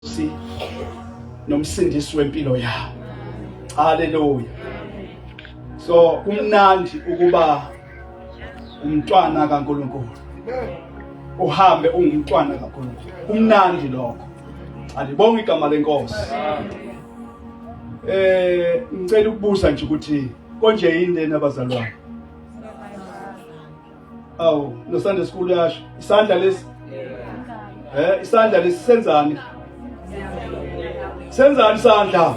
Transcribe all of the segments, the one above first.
si nomsindisi wempilo yabo haleluya so kumnandi ukuba umntwana kaNkuluNkulu uhambe ungumntwana kaNkuluNkulu kumnandi lokho alibonga igama lenkosi eh ngicela ukubuza nje ukuthi konje yini lena abazalwane awu no Sunday school yasho isandla lesi eh isandla lesi senzani senzani isandla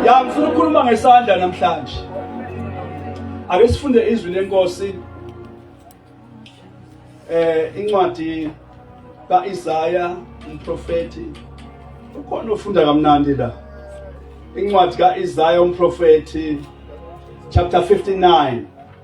ya ngifuna ukukhuluma ngesandla namhlanje ake sifunde izwi lenkosi eh incwadi kaIsaya umprofeti ukhona ufunda kamnandi la incwadi kaIsaya umprofeti chapter 59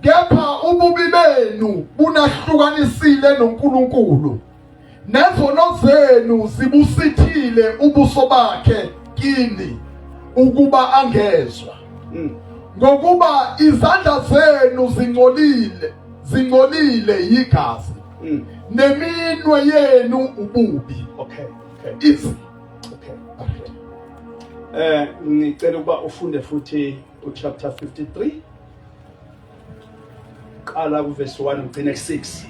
kepha ububi benu bunahlukanisile noNkulunkulu nezono zenu zibusithile ubuso bakhe kini ukuba angezwa hmm. ngokuba izandla zenu zingcolile zingcolile yigazi hmm. neminwe yenu ububi okay okay Is, okay eh ngicela ukuba ufunde futhi uchapter 53 qala kuverse 1 ugcine 6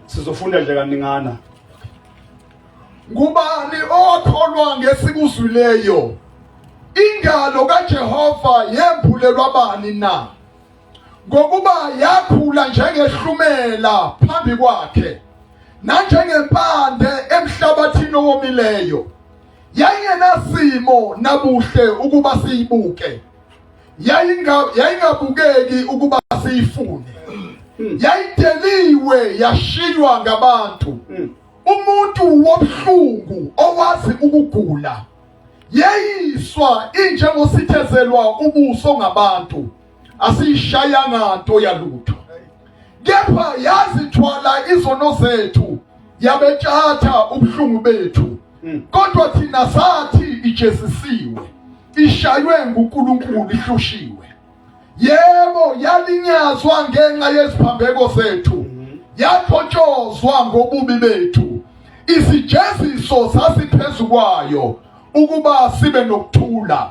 sizofunda nje kaningana ngubani okholwa ngesikuzwileyo ingalo kaJehova yembulelwa bani na ngokuba yakhula njengehlumela phambi kwakhe nanjengempande emhlabathini owomileyo yayingenasimo nabuhle ukuba siyibuke yayingabukeki ukuba siyifune hmm. yayideliwe yashiywa ngabantu hmm. umuntu wobuhlungu owazi ukugula yeyiswa injengosithezelwa ubuso ngabantu asiyishayanga nto yalutho kepha yazithwala izono zethu yabetshatha ubuhlungu bethu hmm. kodwa thina sathi ijesisiwe ishaywe nguNkulunkulu ihloshiwe yebo yalinyazwa ngenxa yeziphambeko zethu hmm. yaphotshozwa ngobubi bethu isijeziso sasiphezulu kwayo ukuba sibe nokuthula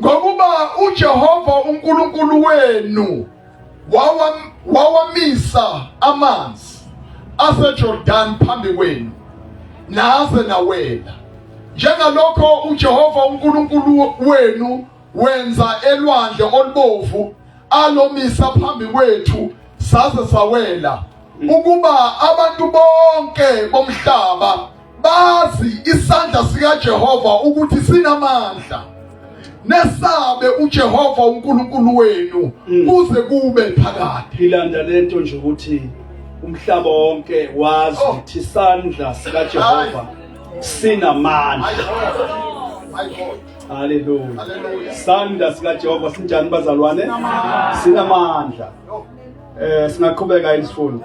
Ngokuba uJehova uNkulunkulu wenu wawamisa amanzi aseJordan phambi kwenu naze nawela njengalokho uJehova uNkulunkulu wenu wenza elwandle olubovu alomisa phambi kwethu saze sawela ukuba abantu bonke bomhlaba bazi isandla sikaJehova ukuthi sinamandla nesabe uJehova uNkulunkulu wenu mm. kuze kube phakade ilanda lento nje ukuthi umhlaba wonke wazi oh. ukuthi isandla sikaJehova sinamandla Hallelujah. Sandla sikaJehova sinjani bazalwane? Sinamandla. Eh singaqhubeka isifundo.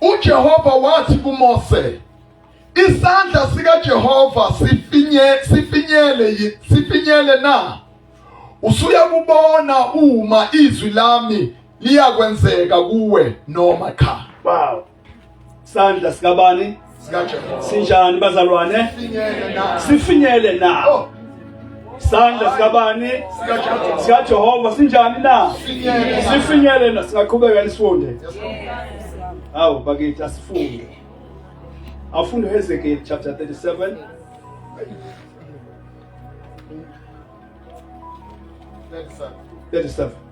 uJehova wathi kuMose isandla sikaJehova sifinye sifinyele sifinyele na usuya kubona uma izwi lami liyakwenzeka kuwe noma cha wow Sandla sikabani? SikaJehova. Sinjani bazalwane? Sinyele na. Sifinyele na. Oh. Sandla sikabani? SikaJehova. SikaJehova sinjani na? Sinyele na. Sifinyele na singaqhubeka nisifunde. Yes, Lord. Hawu bakithi asifunde. Afunde Hezekiel chapter 37 Thirty-seven. 37.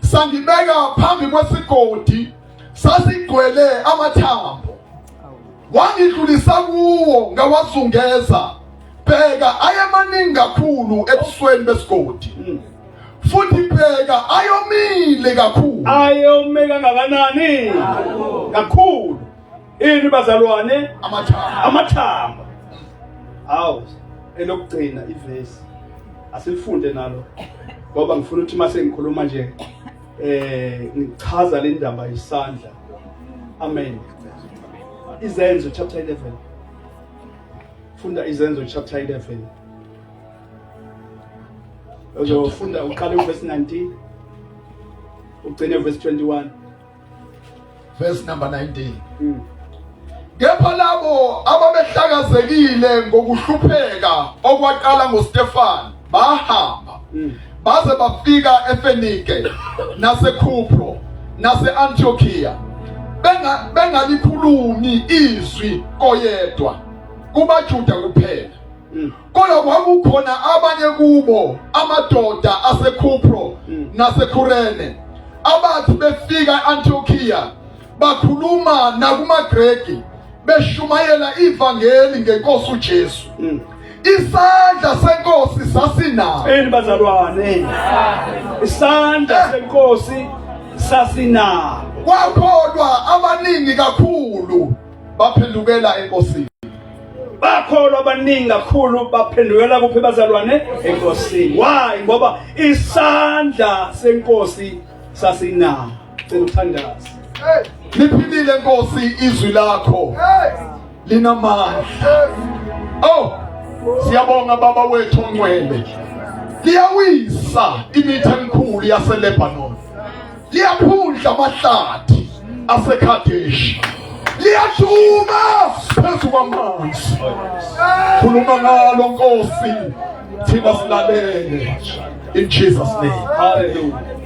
sangibeka phambi kwesigodi sasigcwele amathambo wangidlulisa kuwo ngawazungeza bheka ayemaningi kakhulu ebusweni besigodi hmm. futhi bheka ayomile kakhulu ayome kangakanani kakhulu ini bazalwane amathamba amathamba awu elokugcina ivesi asilifunde nalo ngoba ngifuna ukuthi mase ngikhuluma nje eh ngichaza le ndaba yisandla amen izenzo chapter 11 funda izenzo chapter 11 uzofunda uqale uverse 19 ugcine uverse 21 verse number 19 mm. kepha labo ababehlakazekile ngokuhlupheka okwaqala ngoStefan bahamba mm. baze bafika eFenike naseKupro naseAntiochia benga bengalikhulumi izwi koyedwa kubaJuda kuphela mm. kodwa kwakukhona abanye kubo amadoda aseKhupro mm. naseKhurene abathi befika e-Antiochiya bakhuluma nakumaGreki beshumayela ivangeli ngenkosi uJesu mm. isandla senkosi sasinawo eni bazalwane isandla eh. senkosi sasinawo kwakholwa abaningi kakhulu baphendukela enkosini bakholwa abaningi kakhulu baphendukela kuphi bazalwane enkosini why ngoba isandla senkosi sasinawo cela ukuthandaza liphilile nkosi izwi lakho linamandla oh siyabonga baba wethu ongcwele liyawisa imithe emkhulu yaseLebanon liyaphundla amahlathi aseKhadeshi liyashuma phezu kwamanzi khuluma ngalo nkosi thina silalele in Jesus name hallelujah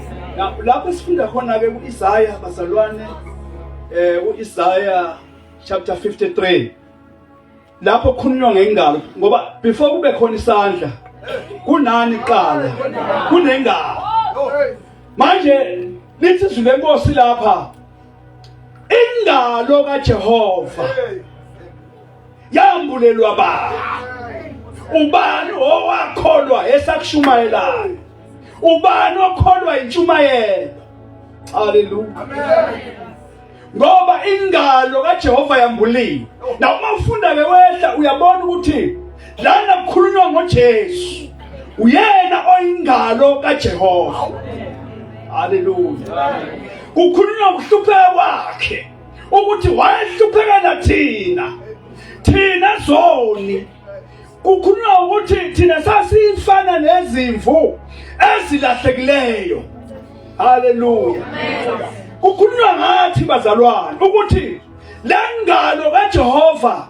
lapho sifunda khona ke kuIsaya bazalwane eh uIsaya chapter 53 lapho kukhulunywa ngengalo ngoba before kube khona isandla kunani kuqala kunengalo manje lithi izwi lenkosi lapha ingalo kaJehova yambulelwa ba ubani owakholwa esakushumayelayo ubani okholwa intshumayelo haleluya amen ngoba ingalo kaJehova yambuliwe na uma ufunda ke wehla uyabona ukuthi lana kukhulunywa ngoJesu uyena oyingalo kaJehova haleluya kukhulunywa ngokuhlupheka kwakhe ukuthi wayehluphekela thina thina zoni kukhulunywa ukuthi thina sasifana nezimvu ezilahlekileyo haleluya kukhulunywa ngathi bazalwane ukuthi le ngalo kajehova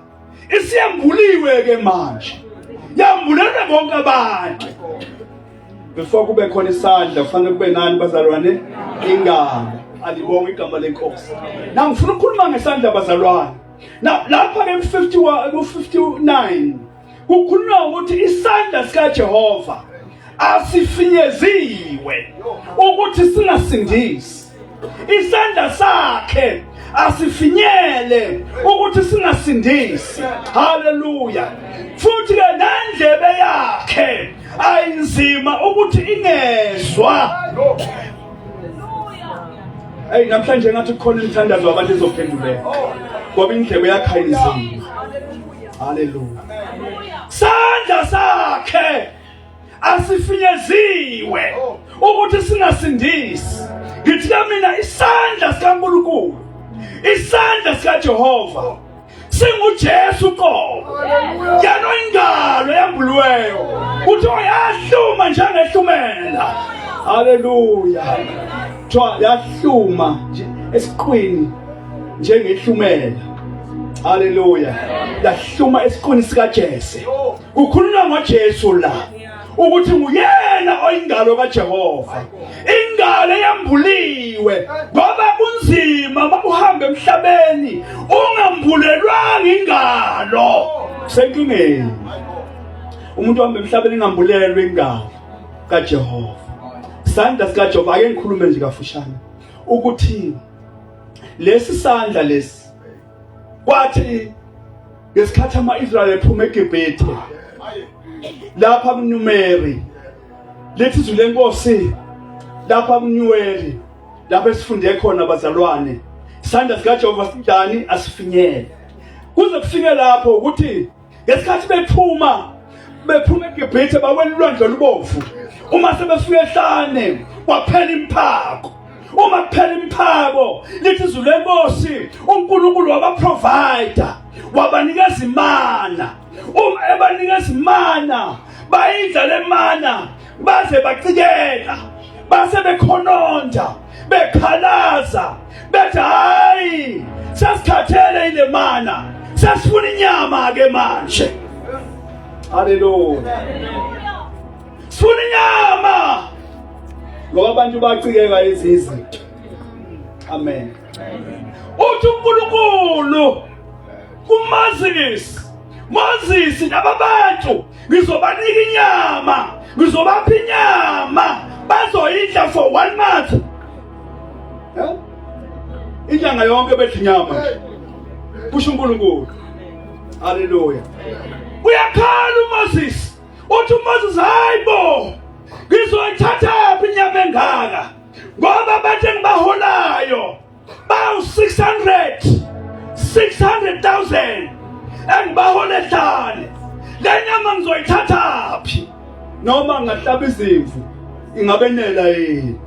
isiyambuliwe ke manje yambulelwe bonke abantu before kube khona isandla kufanele kube nani bazalwane ingalo alibonga igama lenkosi nangifuna ukukhuluma ngesandla bazalwane Now lapha ke 51 ku 59 kukhulunywa ukuthi isandla sika Jehova asifinyeziwe ukuthi singasindisi isandla sakhe asifinyele ukuthi singasindisi haleluya futhi ke nendlebe yakhe ayinzima ukuthi ingezwa Hey namhlanje ngathi kukhona imithandazo abantu ezophenduleka. Ngoba indlebe yakhayizima. Haleluya. Sandla sakhe asifinyeziwe ukuthi singasindisi. Ngithi mina isandla sikaNkulunkulu. Isandla sikaJehova. singuJesu qobo yena oyingalo yambulweyo kuthiwa yahluma njengehlumela haleluya kuthiwa yahluma esiqwini njengehlumela haleluya yahluma esiqwini sikaJese kukhulunywa ngoJesu la ukuthi nguyena oyingalo kaJehova ingalo eyambuliwe ngoba kunzima makuhamba emhlabeni ungambulelwanga ingalo senkingeni umuntu ohamba emhlabeni ingambulelwe ingalo kaJehova isandla sikaJehova ake ngikhulume nje kafushane ukuthi lesi sandla lesi kwathi ngesikhathi ama-israyeli ephuma egibhithe lapha kunyumeri lithi izwi lenkosi lapha kunyuweli lapho esifunde khona bazalwane isandla sikajehova sinjani asifinyele kuze kufike lapho ukuthi ngesikhathi bephuma bephuma egibhithe bawela ulwandle olubomvu uma sebefika ehlane kwaphela imphako uma kuphela imphako lithi izulu lenkosi unkulunkulu wabaprovider wabanikeza imana uma ebanikeza imana bayidla le mana baze bacikela base bekhononda bekhalaza bethi hayi sesikhathele ile mana sesifuna inyama ke manje haleluya sifuna inyama ngoba abantu bacikeka ezinye izinto amen uthi uNkulunkulu kumazisi mazisi nababantu ngizobanika inyama ngizobapha inyama bazoyidla for one month eh? inyanga yonke bedla inyama kusho unkulunkulu haleluya uyakhala umoses uthi umoses hayi bo ngizoyithathaphi inyama engaka ngoba abantu engibaholayo bawu 600 600000 engibahole ehlane le nyama ngizoyithathaphi noma ngahlaba izimvu ingabenela yini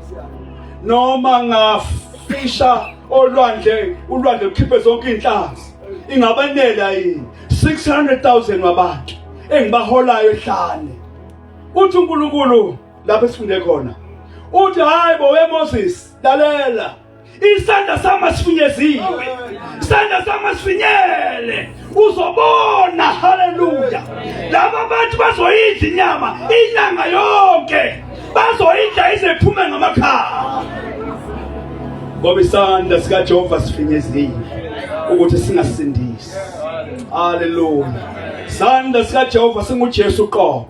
noma ngafisha olwandle ulwandle lukhiphe zonke inhlanzi ingabenela yini 600000 wabantu engibaholayo ehlane uthi uNkulunkulu lapho esifunde khona uthi hayi bo weMoses lalela isandla sami asifinyeziwe isandla sami asifinyele uzobona haleluya laba bantu bazoyidla inyama inyanga yonke bazoyidla izephume ngamakhala ngoba isandla sikajehova sifinyeziwe ukuthi singasindisi haleluya isandla sikajehova singujesu qobo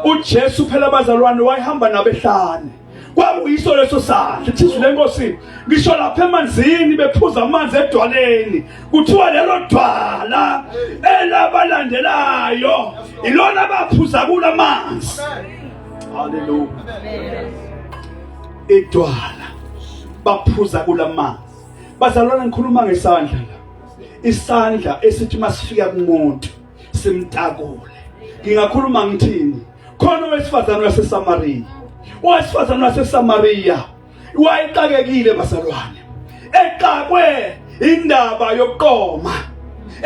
ujesu phela abazalwane wayehamba nabehlane kwakuyiso leso sandla ithizwi lenkosi ngisho lapha emanzini bephuza amanzi edwaleni kuthiwa lelo dwala elabalandelayo ilona baphuza kula manzi haleluya idwala baphuza kula manzi bazalwana ngikhuluma ngesandla la isandla esithi masifika kumuntu simtakule ngingakhuluma ngithini khona owesifazane waseSamariya owesifazane waseSamariya wayexakekile bazalwane exakwe indaba yokuqoma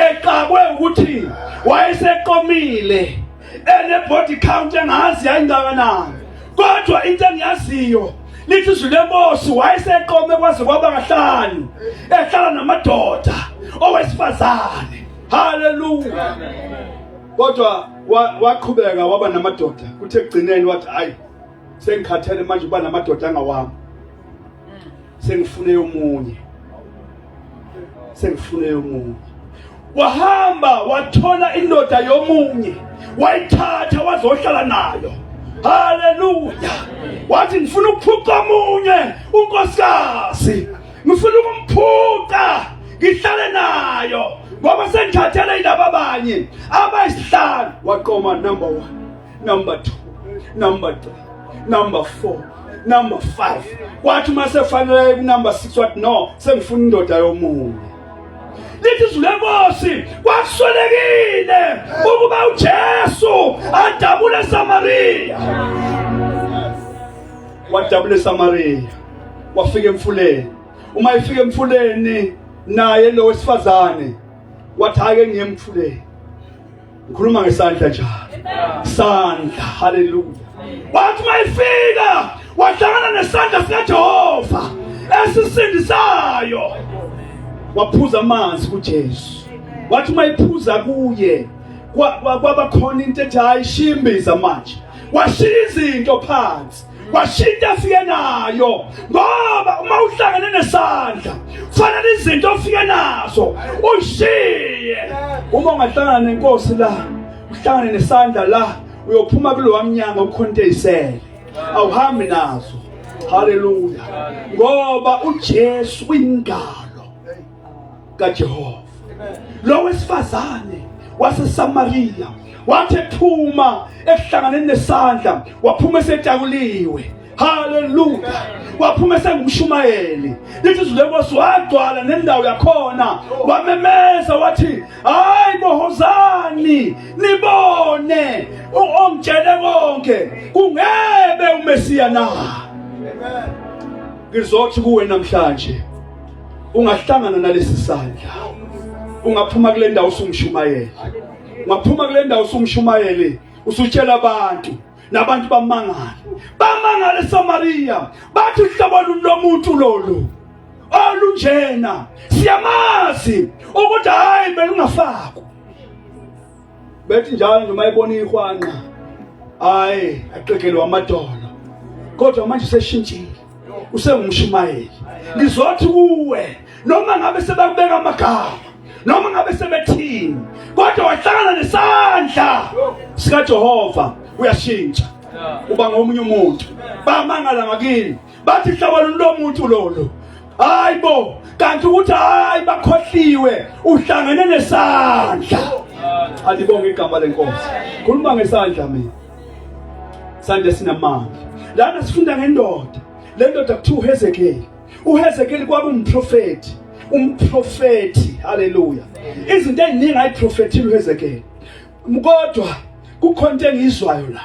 exakwe ukuthi wayeseqomile ene body count engazi yayingakanani kodwa into engiyaziyo lithi izwi lenkosi wayeseqome kwaze kwaba kahlanu ehlala namadoda owesifazane haleluya kodwa waqhubeka waba namadoda kuthe kugcineni wathi hayi sengikhathele manje uba namadoda angawami sengifune omunye sengifune omunye wahamba wathola indoda yomunye wayithatha wazohlala nayo haleluya wathi ngifuna ukuphuca omunye unkosikazi ngifuna ukumphuca ngihlale nayo ngoba sengithathele ilaba abanye abayisihlanu waqoma number one number two number three number four number five kwathi uma sefanele kunumber six wathi no sengifuna indoda yomunye lithi izwi lenkosi kwakuswelekile ukuba ujesu adabule esamariya wadabula eSamariya wafika emfuleni uma efika emfuleni naye lo wesifazane wathi ake ngiye emfuleni ngikhuluma ngesandla njalo sandla haleluya wathi uma efika wahlangana nesandla sikaJehova esisindisayo waphuza amanzi kuJesu wathi uma ephuza kuye kwabakhona into ethi hayi shimbiza manje washiya izinto phansi washintsha afike nayo ngoba uma uhlangene nesandla kufanele izinto ofike nazo ushiye uma ungahlangana nenkosi la uhlangane nesandla la uyophuma kulowa mnyango ukhonteyisele awuhambi nazo haleluya ngoba uJesu uyingalo kaJehova. Lo wesifazane waseSamariya wathi ethuma ekuhlanganeni nesandla waphuma esetakuliwe haleluya waphuma esengumshumayeli lithi izwi lenkosi wagcwala nendawo yakhona wamemeza wathi hayi bohozani nibone ongitshele konke kungebe umesiya na ngizothi kuwe namhlanje ungahlangana nalesi sandla ungaphuma kule ndawo usumshumayele ungaphuma kule ndawo usumshumayele usutshela abantu nabantu bamangala bamangala eSamaria bathi uhlobo lomuntu lolu olunjena siyamazi ukuthi hayi belungafakwa bethi njalo nje mayibona ihwanqa hayi aqegelwa amadolo kodwa manje seshintshile usengumshumayeli ngizothi kuwe noma ngabe sebakubeka amagama noma ngabe sebethini kodwa wahlangana nesandla sikaJehova uyashintsha uba ngomunye umuntu bamangala ngakini bathi hlobo lomuntu lolo hayi bo kanti ukuthi hayi bakhohliwe uhlangene nesandla alibonge igama lenkosi khuluma ngesandla mina sande sinamandla lana sifunda ngendoda le ndoda kuthiwa uhezekeli uhezekeli kwaba umprofethi umprofethi haleluya izinto eziningi ayiprofethile uhezekeli kodwa kukhona into engiyizwayo la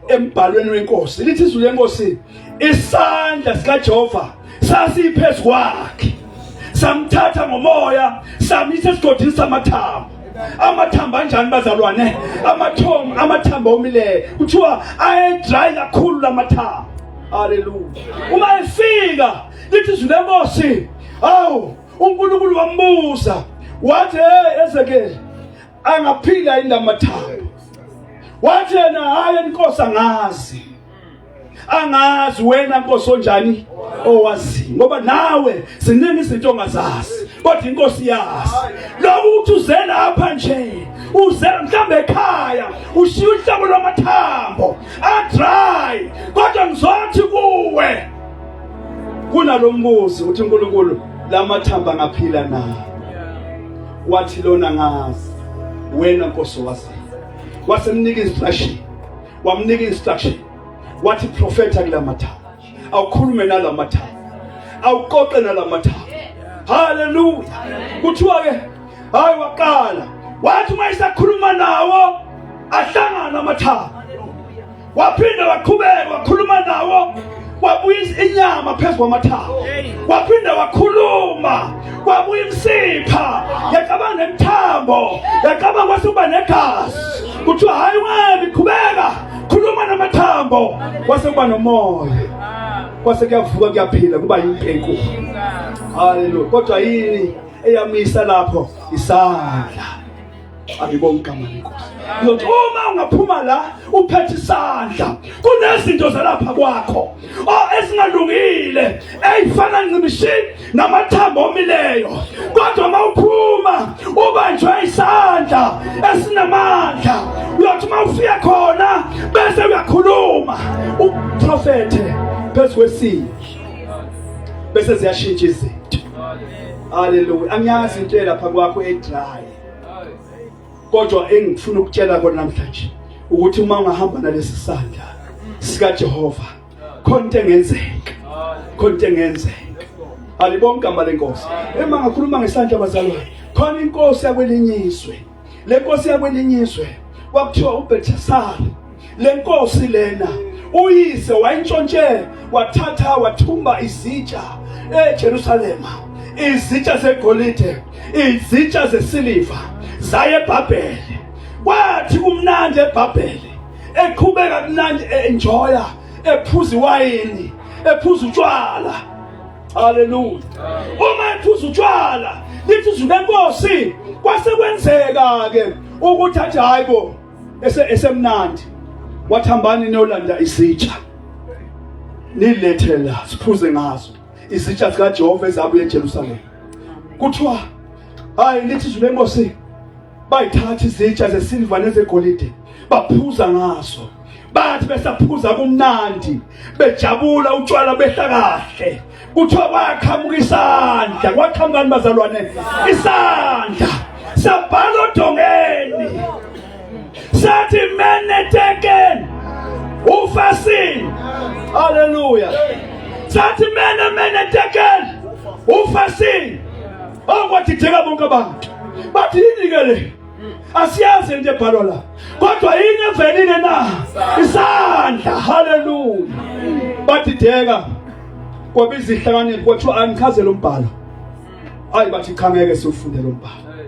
embhalweni wenkosi lithi izwi lenkosi isandla sikajehova sasiphezu kwakhe samthatha ngomoya samisa esigodini samathambo amathambo anjani bazalwane amathomo amathambo omileyo kuthiwa ayedry kakhulu lamathambo haleluya uma efika lithi izwi lenkosi awu unkulunkulu wambuza wathi hey ezekeli angaphila yini lamathambo wathi yena hayi inkosi angazi angazi wena nkosi onjani owazi ngoba nawe ziningi izinto ongazazi kodwa inkosi yazi lokhu ukuthi uze lapha nje uze mhlawumbe ekhaya ushiya uhlobo lwamathambo adry kodwa ngizothi kuwe kunalombuzi uthi uNkulunkulu lamathamba ngaphila na wathi lona ngazi wena nkosi wazi wasemnika instruction wamnika instruction wathi profeta kulamathayo awukhulume nalamathayo awuqoqe nalamathayo haleluya kuthiwa ke hayi waqala wathi uma isakhuluma nawo ahlangana amathayo waphinda waqhubeka wakhuluma nawo wabuyisa inyama phezu kwamathawa waphinde wakhuluma kwabuya imsipha yacabanga nemithambo yacabanga kwase uba negazi kuthiwa hhayi webi qhubeka khuluma namathambo kwase kuba nomoya kwase kuyavuka kuyaphila kuba yinto enkulu haleluya kodwa yini eyamisa lapho isandla angibongi igama lenkosi ngizothi uma ungaphuma la uphethe isandla kunezinto zalapha kwakho o esingalungile eyifana ncimishini namathambo omileyo kodwa uma uphuma ubanjwe isandla esinamandla uyothi uma ufika khona bese uyakhuluma uprofethe phezu kwesini bese ziyashintsha izinto haleluya angiyazi into elapha kwakho edry kodwa engifuna ukutshela kona namhlanje ukuthi uma ungahamba nalesi sandla sika Jehova khona into engenzeka khona into engenzeka alibonke igama lenkosi ema ngakhuluma ngesandla bazalwane khona inkosi yakwelinye izwe le nkosi yakwelinye izwe kwakuthiwa uBethesara lenkosi lena uyise wayintshontshe wathatha wathumba izitsha eJerusalema izitsha zegolide izitsha zesiliva zaye eBhabhele kwathi kumnandi eBhabhele eqhubeka kumnandi enjoya ephuza iwayini ephuza utshwala haleluya uma ephuza utshwala lithi izwi lenkosi kwase kwenzeka ke ukuthi athi hayibo ese esemnandi wathambani niyolanda isitsha nilethe la siphuze ngazo izitsha zikaJehova ezabuye eJerusalem kuthiwa hayi lithi izwi lenkosi bayithatha izitsha zesilva nezegolide baphuza ngazo bathi besaphuza kumnandi bejabula utshwala behla kahle kuthiwa kwaqhamuka isandla kwaqhamukani bazalwane isandla sabhala odongeni sathi meneteken ufasin haleluya sathi mene meneteken ufasin okwathitheka bonke abantu bathi yini-ke le asiyazi into ebhalwa la kodwa yini evelile na isandla haleluya badideka kwaba izihlakaniphi kwathiwa angichaze lo mbhalo ayi bathi cha ngeke siwufunde lo mbhalo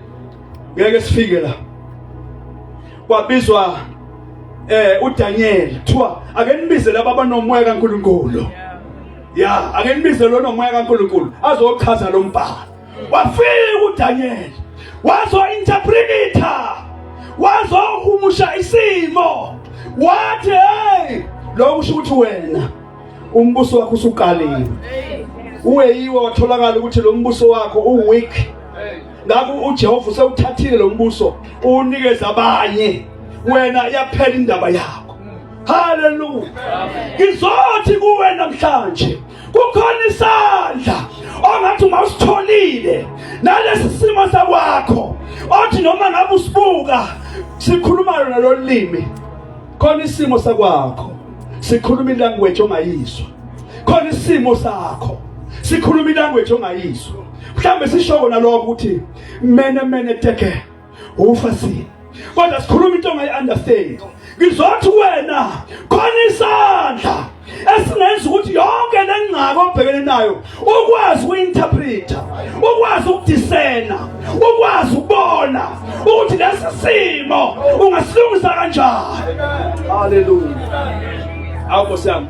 ngeke sifike la kwabizwa eh uDaniel kuthiwa ake nibize laba abanomoya kaNkuluNkulu ya ake nibize lo nomoya kaNkuluNkulu azochaza lo mbhalo wafika uDaniel wazointerpreta wazohumusha isimo wathi hey lokho usho ukuthi wena umbuso wakho usuqalile uwe yiwo watholakala ukuthi lo mbuso wakho uweak ngakho uJehova usewuthathile lo mbuso uwunikeza abanye wena iyaphela indaba yakho haleluya ngizothi kuwe namhlanje kukhona isandla ongathi uma usitholile nalesi simo sakwakho othi noma ngabe usibuka sikhuluma lona lolimi khona isimo sakwakho sikhuluma ilanguage ongayizwa khona isimo sakho sikhuluma ilanguage ongayizwa mhlambe sisho kona lokho ukuthi mene mene teke ufasini kodwa sikhuluma into ongayi-understand ngizothi wena khona isandla esingenza ukuthi yonke le ngcaka obhekene nayo ukwazi uku-interpreta ukwazi ukudisena ukwazi ukubona ukuthi lesi simo ungasilungisa kanjani haleluya awu nkosi yami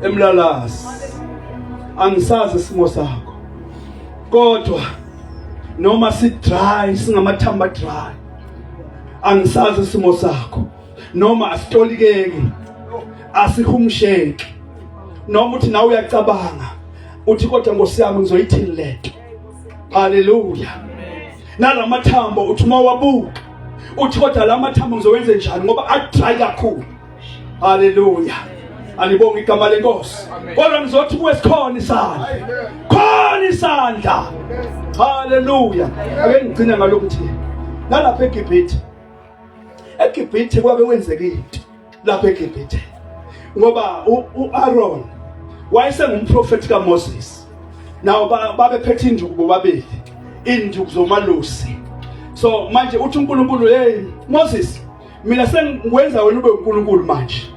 emlalasi angisazi isimo sakho kodwa noma si dry singamathamba dry angisazi isimo sakho noma asitolikeki asihumsheki noma uthi nawe uyacabanga uthi kodwa Nkosi yami ngizoyithini lento haleluya nalamathambo uthi uma wabuka uthi kodwa lamathambo ngizowenze njani ngoba adry kakhulu haleluya anibonga igama lenkosi kodwa ngizothi kuwe sikhona isandla khona isandla haleluya ake ngigcine ngalokhu thi nalapha egibhithe egibhithe kwabe kwenzeka into lapha egibhithe ngoba u-aron wayesengumprofethi kamoses nawo babephethe induku bobabili induku zomalusi so manje uthi unkulunkulu hey moses mina sengikwenza wena ube uNkulunkulu manje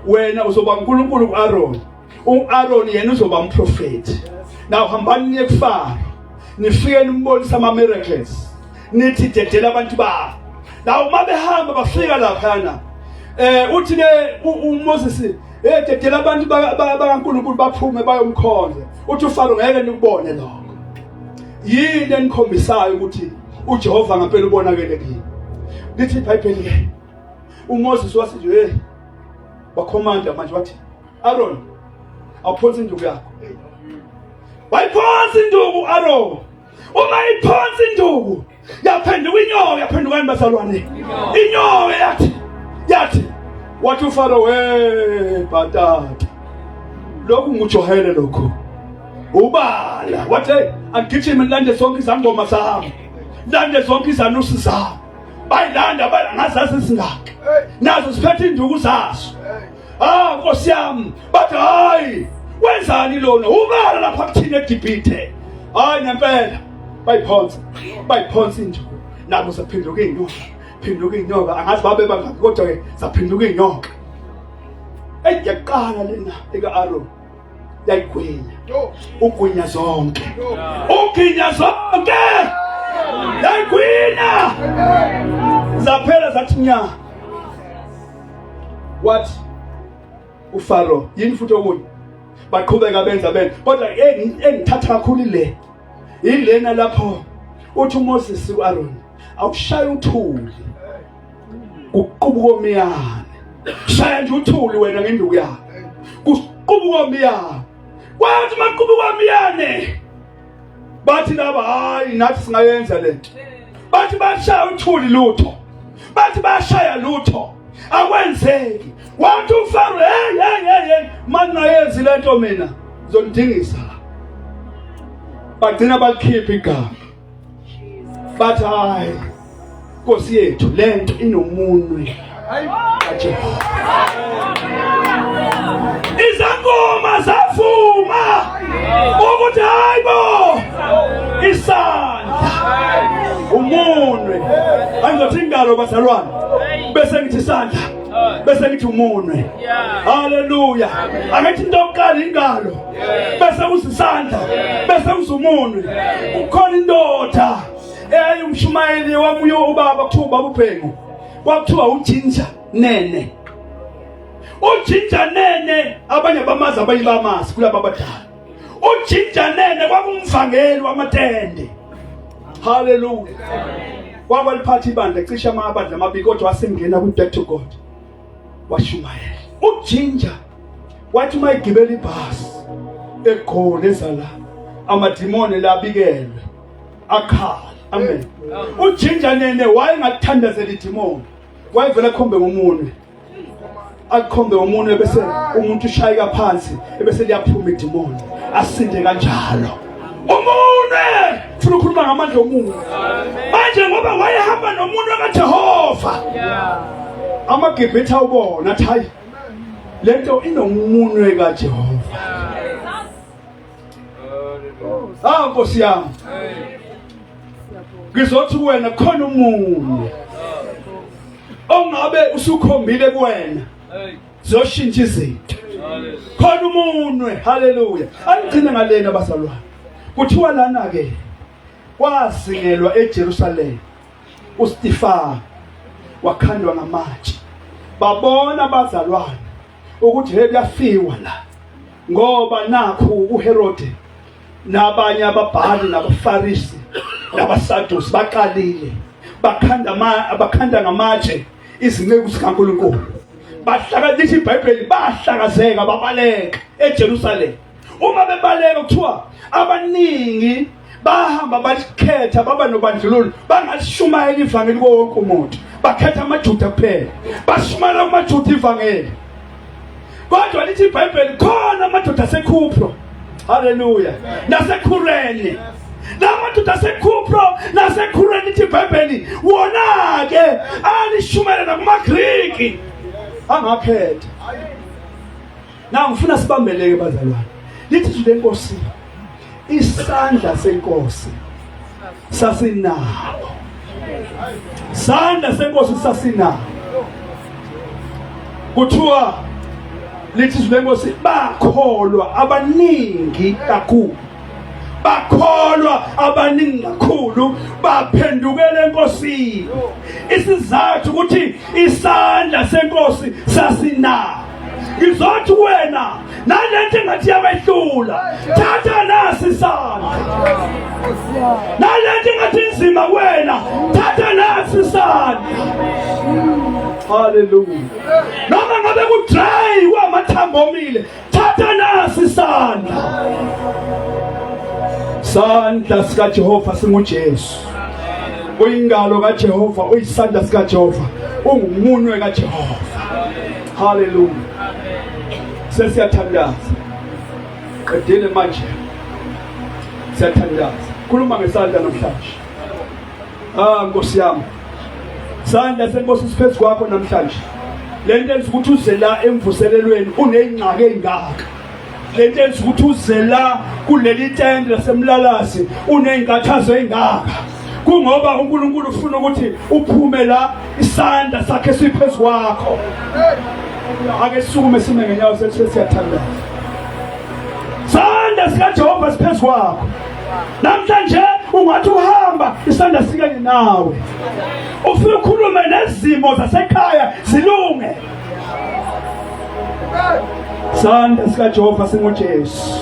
wena uzoba uNkulunkulu kuAron uAron yena uzoba umprofeti now hambani niye kufaro nifike nimbonisa ama miracles nithi dedela abantu babo now uma behamba bafika laphana eh uthi ke uMoses eh dedela abantu bakaNkulunkulu baphume bayomkhonza uthi uFaro ngeke nikubone lokho yini enikhombisayo ukuthi uJehova ngempela ubonakele kimi lithi iBhayibheli ke uMoses wathi nje wakhomanda manje wathi Aaron awuphonsi induku yakho wayiphonsi induku Aaron uma iphonsi induku yaphenduka inyoka yaphenduka imbazalwane inyoka yathi yathi wathi uFaro we bhatata lokhu nguJohane lokho ubala wathi agijime nilande sonke izangoma zami lande zonke izanusi zami bayilanda bala ngazazi singaka nazo siphethe induku zaso ah nkosi yami bathi hayi wenzani lona ubala lapha kuthina edibhithe hayi ngempela bayiphonsa bayiphonsa into nabo saphinduka iy'nyoka phinduka iy'nyoka angazi babe bangaki kodwa-ke saphinduka iy'nyoka eyi yaqala lena eka-aroni yayigwinya ugwinya zonke ugwinya zonke yayigwinya zaphela zathi nya wathi ufaro yini futhi okunye baqhubeka benza benza kodwa engithatha kakhulu ile yilena lapho uthi uMoses uAron awushaya uthuli kuqubuka omiyane shaya nje uthuli wena ngenduku yakhe kuqubuka omiyane kwathi maqubuka omiyane bathi laba hayi nathi singayenza lento bathi bashaya uthuli lutho bathi bashaya lutho akwenzeki wathi ufaro hey hey hey hey mangayenzi lento mina zondingisa bagcina balikhipha igama but hayi Nkosi yethu lento inomunwe kaJehova izangoma zavuma ukuthi hayibo isandla umunwe angizothi ingalo bazalwane bese ngithi isandla bese ngithi umunwe haleluya angithi into yokuqala ingalo bese uzisandla bese uzumunwe ukhona indoda eyayi umshumayeli wamuyo ubaba kuthiwa ubaba ubhengu kwakuthiwa ujinja nene ujinja nene abanye bamazi abanye bamazi kulaba abadala ujinja nene kwakumvangeli wamatende haleluya wakwaliphatha ibandla cisha amabandla amabili kodwa wasengena kwi-back to god washumayela ujinja wathi uma egibela ibhasi egqole ezala amadimoni labikelwe akhala amen ujinja nene wayengakuthandazela idimoni wayevela khombe ngomunwe akhombe umuntu ebese umuntu ushayeka phansi ebese liyaphuma idimoni asinde kanjalo Umune funa ukukhuluma ngamandla omunye. Manje ngoba wayehamba nomuntu kaJehova. Amagibhitha ubona athi hayi lento inomunwe kaJehova. Ah Nkosi yami. Ngizothi kuwena khona umunye ongabe usukhombile kuwena. ziyoshintsha izinto khona umunwe haleluya angigcine ngalena bazalwane kuthiwa lana ke kwasingelwa eJerusalem uStifan wakhandwa ngamatshe babona abazalwane ukuthi hey kuyafiwa la ngoba nakhu uHerode nabanye ababhali nabafarisi nabasadusi baqalile bakhanda bakhanda ngamatshe izinceku zikaNkuluNkulu bahlakanisa iBhayibheli bahlakazeka babaleka eJerusalem uma bebaleka kuthiwa abaningi bahamba balikhetha baba nobandlululo bangalishumayela ivangeli kuwo wonke umuntu bakhetha amajuda kuphela bashumayela kumajuda ivangeli kodwa lithi ibhayibheli khona amadoda asekhupro haleluya nasekhureni namadoda asekhupro nasekhureni lithi ibhayibheli wona-ke alishumele nakumagriki angaphetha na ngifuna sibambeleke bazalwane lithi izwi lenkosi isandla senkosi sasinabo sandla senkosi sasinabo kuthiwa lithi izwi lenkosi bakholwa abaningi kakhulu bakholwa abaningi kakhulu baphendukela enkosini isizathu ukuthi isandla senkosi sasinabo ngizothi wena nalento engathi yawehlula thatha nasi isandla nalento engathi inzima kuwena thatha nasi isandla haleluya noma ngabe kudry kwamathambo omile thatha nasi isandla sandla sikaJehova singuJesu uyingalo kaJehova uyisandla sikaJehova ungumunwe kaJehova haleluya sesiyathandaza qedile manje siyathandaza khuluma ngesandla namhlanje ah nkosi yami sandla senkosi siphezu kwakho namhlanje lento enza ukuthi uze la emvuselelweni unezingxaki ezingaka le nto enza ukuthi uze la kuleli tende lasemlalasi uney'nkathazo ey'ngaka kungoba unkulunkulu ufuna ukuthi uphume la isandla sakhe siphezu kwakho ake sisukume sime ngenyawo sethu siyathandaza sandla sikajehova siphezu kwakho namhlanje ungathi uhamba isandla sikanye nawe ufuna ukhulume nezimo zasekhaya zilunge Sandla sikaJehova singuJesu.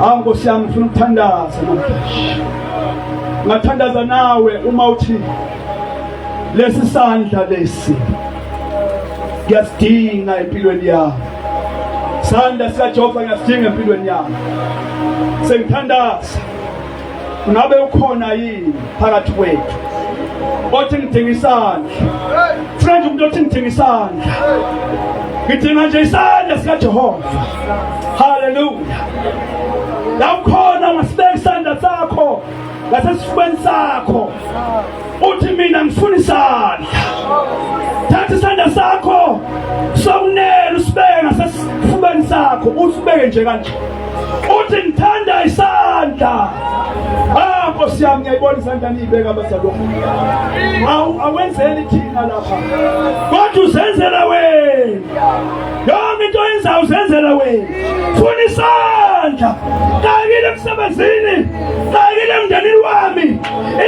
Hawu Nkosi yami ngifuna ukuthandaza namhlanje. Ngathandaza nawe uma uthi lesi sandla lesi ngiyasidinga empilweni yami sandla sikaJehova ngiyasidinga empilweni yami sengithandaza Ngabe ukhona yini phakathi kwethu othi ngidinga isandla? Friend umuntu othi ngidinga isandla. Ngidinga nje isandla sika Jehova. Hallelujah. Lakhona ngasibeka isandla sakho ngasesifubeni sakho. Uthi mina ngifuna isandla. Thatha isandla sakho sokunene usibeke ngasesifubeni sakho usibeke nje kanje. uthi ngithanda isandla ah nkosi yami ngiyayibona isandla niyibeka abazalwane awu awenzeli thina lapha kodwa uzenzela wena yonke into oyenzayo uzenzela wena funa isandla kakile emsebenzini kakile emndenini wami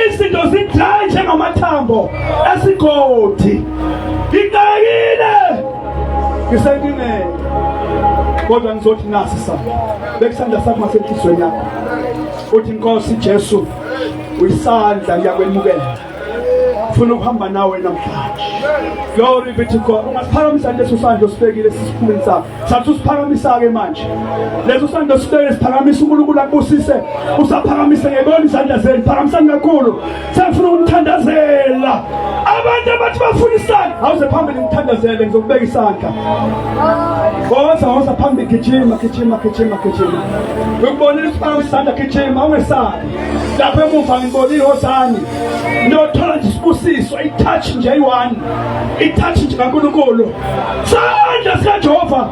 izinto zidlanje ngamathambo esigodi ngikakile ngisenkingeni kodwa ngizothi nasi sa bekusandla sakho ngasenhlizweni yakho uthi inkosi Jesu uyisandla ngiyakwemukela funa ukuhamba nawe namhlanje glory be to God ungasiphakamisa nje usandla osibekile sisiphumeni sakho sathi usiphakamisa ke manje leso sandla sibeke siphakamisa uNkulunkulu akubusise usaphakamise ngebona izandla zenu phakamisani kakhulu sefuna ukuthandazela abantu abathi bafuna isandla awuze phambili ngithandazele ngizokubeka isandla woza woza phambili gijima gijima gijima gijima ngikubonile ukuthi banga isandla gijima ungesabi lapho emuva ngibonile wozani nothola nje isibusiso itouch nje eyi-one itouch nje kankulunkulu sandla sikajehova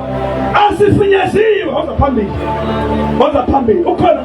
asifinyeziwe woza phambili woza phambili ukhona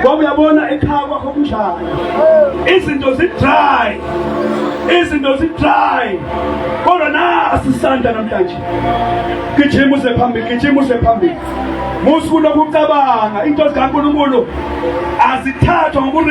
ngoba uyabona ekhaya kwakho kunjani izinto zi-dry izinto zi-dry kodwa nasi isandla namhlanje gijima uze phambili gijima uze phambili musuku lokucabanga into zikankulunkulu azithathwa ngoku